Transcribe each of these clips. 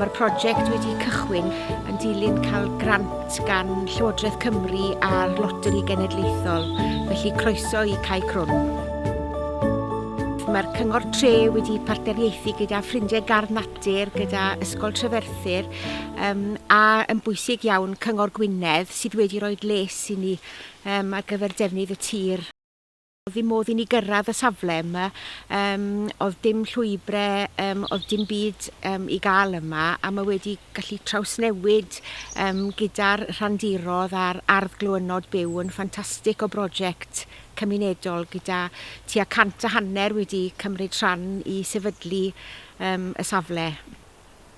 Mae'r prosiect wedi cychwyn yn dilyn cael grant gan Llywodraeth Cymru a'r Loteri Genedlaethol, felly croeso i Cai Crwn. Mae'r Cyngor Tre wedi partneriaethu gyda ffrindiau gardd natur, gyda Ysgol Treferthyr um, a yn bwysig iawn Cyngor Gwynedd sydd wedi rhoi les i ni um, ar gyfer defnydd y tir. Oedd ddim modd i ni gyrraedd y safle yma, yym oedd dim llwybre, yym oedd dim byd yym i gael yma a mae wedi gallu trawsnewid yym gyda'r rhandirodd a'r ardd glywynod byw yn ffantastig o brosiect cymunedol gyda tua cant a hanner wedi cymryd rhan i sefydlu yym y safle.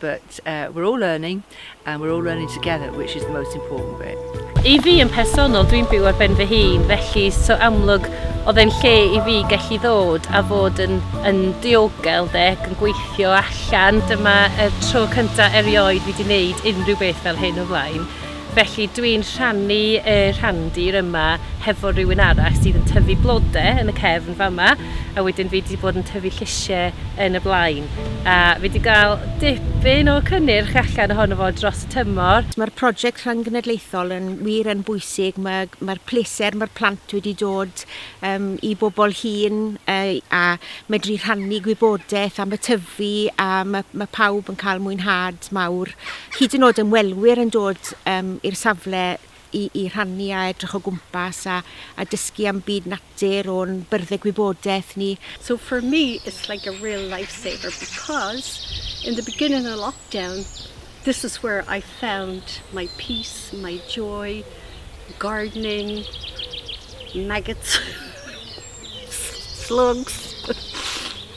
but uh we're all learning and we're all learning together which is the most important bit. I fi yn personol, dwi'n byw ar ben fy hun, felly so amlwg oedd e'n lle i fi gallu ddod a fod yn, yn diogel de, ac yn gweithio allan. Dyma y tro cyntaf erioed fi wedi wneud unrhyw beth fel hyn o flaen. Felly dwi'n rhannu y rhandir yma hefo rhywun arall sydd yn tyfu blode yn y cefn fama a wedyn fi wedi bod yn tyfu llysiau yn y blaen a fi wedi cael dipyn o cynnyrch allan ohono fo dros y tymor. Mae'r project rhyng-genedlaethol yn wir yn bwysig, mae mae'r pleser mae'r plant wedi dod um, i bobl hŷn uh, a medru rhannu gwybodaeth am y tyfu a mae, mae pawb yn cael mwynhad. lot mawr, hyd yn oed ymwelwyr yn dod um, i'r safle i, i rhannu a edrych o gwmpas a, a dysgu am byd natur o'n byrddau gwybodaeth ni. So for me it's like a real lifesaver because in the beginning of lockdown this is where I found my peace, my joy, gardening, maggots, slugs.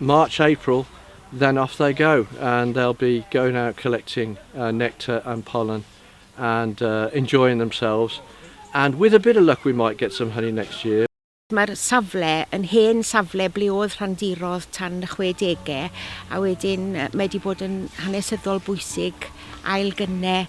March April then off they go and they'll be going out collecting uh, nectar and pollen and uh, enjoying themselves and with a bit of luck we might get some honey next year. Mae'r safle yn hen safle ble oedd rhandirodd tan y 60au a wedyn mae wedi bod yn hanesyddol bwysig ail gynne